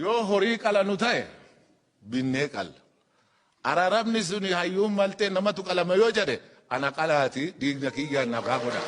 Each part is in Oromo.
Yoo horii qalanu ta'e binnee qalla. Araarabni suni hayyuun maltee namatu qalama yoo jedhe ana qalaati diigna kiyyaan nagaa godha.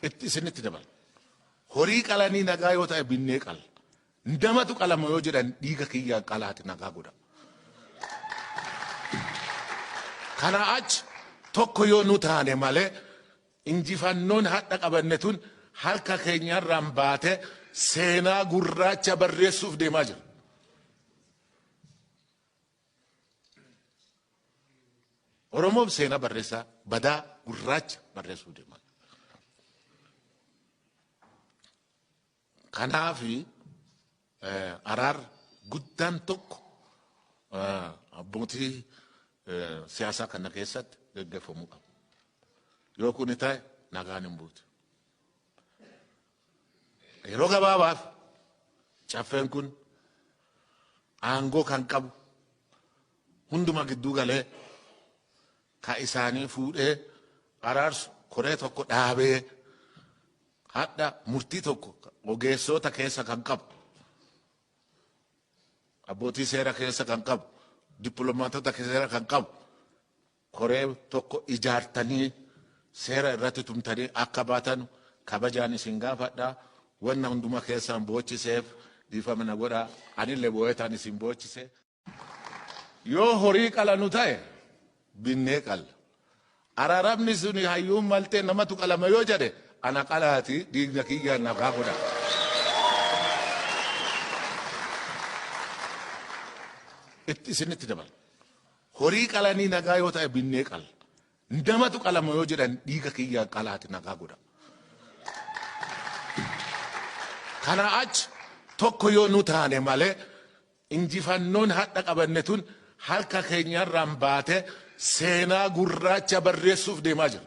Itti isinitti dabala. Horii qalanii nagaa yoo ta'e binnee qalla. Namatu qalama yoo jedhan dhiiga kiyyaan qalaati nagaa godha. Kana achi tokko yoo nu taane malee Injifannoon hadha qabanne tun harka keenya irraan baatee seenaa gurraacha barreessuuf deemaa jira. Oromoon seenaa barreessaa badaa gurraacha barreessuuf deemaa jira. Kanaaf araar guddaan tokko abbootii siyaasaa kana keessatti gaggeeffamuu qaba. Yoo kuni ta'e nagaan hin buutu. Yeroo gabaabaaf caffeen kun aangoo kan qabu hunduma gidduu galee ka isaanii fuudhee araarsu koree tokko dhaabee Hadha murtii tokko ogeessoota keessa kan qabu, abbootii seera keessa kan qabu, dippiloomaatota seera kan qabu koree tokko ijaartanii seera irratti tumtanii akka baatanu kabajaan isin gaafadha. Wanna hunduma keessaan boochiseef dhiifama na godhaa. Anillee boo'eetaan isin boochise. Yoo horii qalanu ta'e binnee qalla. Araarabni suni hayyuun maltee namatu qalama yoo jedhe ana qalaati dhiigna kiyyaan nagaa godha. Itti isinitti dabala. Horii qalanii nagaa yoo ta'e binnee qalla. Namatu qalama yoo jedhan dhiiga kiyyaan qalaati nagaa godha. Kana achi tokko yoo nu taane malee Injifannoon hadha qabanne tun harka keenya irraan baate seenaa gurraacha barreessuuf deemaa jirra.